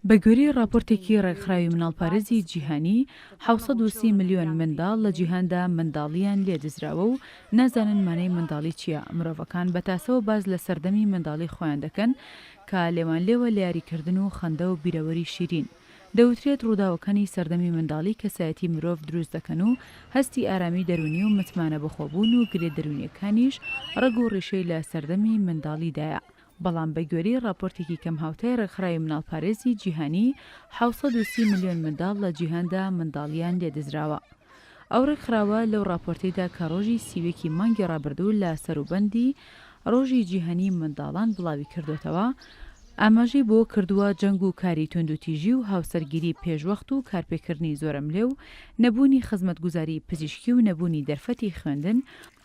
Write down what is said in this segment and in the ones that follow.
بە گوێرەی ڕاپۆرتێکی ڕێکخراوی مناڵپارێزی جیهانی، حەوت سەد و سی ملیۆن منداڵ لە جیهاندا منداڵییان لێ دزراوە و نازانن مانای منداڵی چییە، مرۆڤەکان بە تاسەوە باس لە سەردەمی منداڵی خۆیان دەکەن کە لێوانلێوە لە یاریکردن و خەندە و بیرەوەری شیرین، دەوترێت ڕووداوەکانی سەردەمی منداڵی کەسایەتی مرۆڤ دروست دەکەن و هەستی ئارامی دەروونی و متمانە بەخۆبوون و گرێ دەروونییەکانیش ڕەگ و ڕیشەی لە سەردەمی منداڵیدایە، بەڵام بە گوێرەی ڕاپۆرتێکی کەمهاوتای ڕێکخراوی مناڵپارێزی جیهانی، حەوت سەد و سی ملیۆن منداڵ لە جیهاندا منداڵییان لێدزراوە. ئەو ڕێکخراوە لەو ڕاپۆرتەیدا کە ڕۆژی سی و یەک ی مانگی ڕابردوو لە سەروبەندی ڕۆژی جیهانیی منداڵان بڵاوی کردۆتەوە، ئاماژەی بۆ کردووە جەنگ و کاری توندوتیژی و هاوسەرگیری پێشوەخت و کارپێکردنی زۆرەملێ و نەبوونی خزمەتگوزاریی پزیشکی و نەبوونی دەرفەتی خوێندن،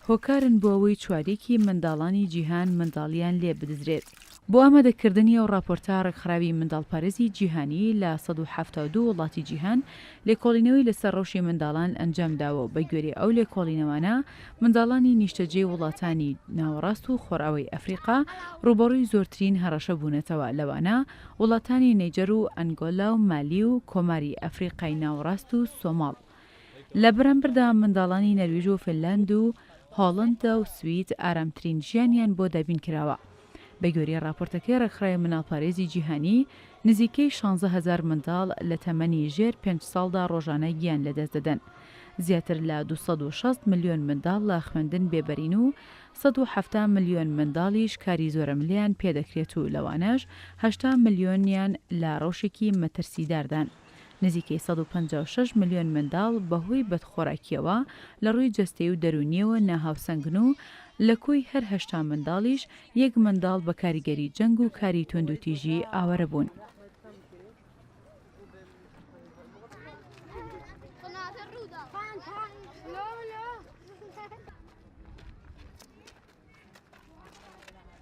هۆکارن بۆ ئەوەی چواریکی منداڵانی جیهان منداڵیان لێ بدزرێت. بۆ ئامادەکردنی ئەو ڕاپۆرتە ڕێکخراوی منداڵپارێزی جیهانی لە سەد و حەفتا و دوو وڵاتی جیهان لێکۆڵینەوەی لەسەر ڕەوشی منداڵان ئەنجام داوە و بە گوێرەی ئەو لێکۆڵینەوانە منداڵانی نیشتەجێی وڵاتانی ناوەڕاست و خۆرئاوای ئەفریقا ڕووبەڕووی زۆرترین هەڕەشە بوونەتەوە لەوانە وڵاتانی نەیجەر و ئەنگۆلا و مالی و کۆماری ئەفریقای ناوەڕاست و سۆماڵ لە بەرامبەردا منداڵانی نەرویژ و فنلاند و هۆڵەندا و سوید ئارامترین ژیانیان بۆ دابین کراوە. بە گوێرەی ڕاپۆرتەکەی ڕێکخراوی منداڵپارێزی جیهانی، نزیکەی شانزە هەزار منداڵ لە تەمەنی ژێر پێنج ساڵدا ڕۆژانە گیان لەدەست دەدەن. زیاتر لە دوو سەد و شەست ملیۆن منداڵ لە خوێندن بێبەرین و سەد و حەفتا ملیۆن منداڵیش کاری زۆرەملێیان پێدەکرێت و لەوانەش هەشتا ملیۆنیان لە ڕەوشێکی مەترسیداردان. نزیکەی سەد و پەنجا و شەش ملیۆن منداڵ بەهۆی بەدخۆراکییەوە لە ڕووی جەستەی و دەروونییەوە ناهاوسەنگن و لە کۆی هەر هەشتا منداڵیش یەک منداڵ بە کاریگەری جەنگ و کاری توندوتیژی ئاوارە بوون.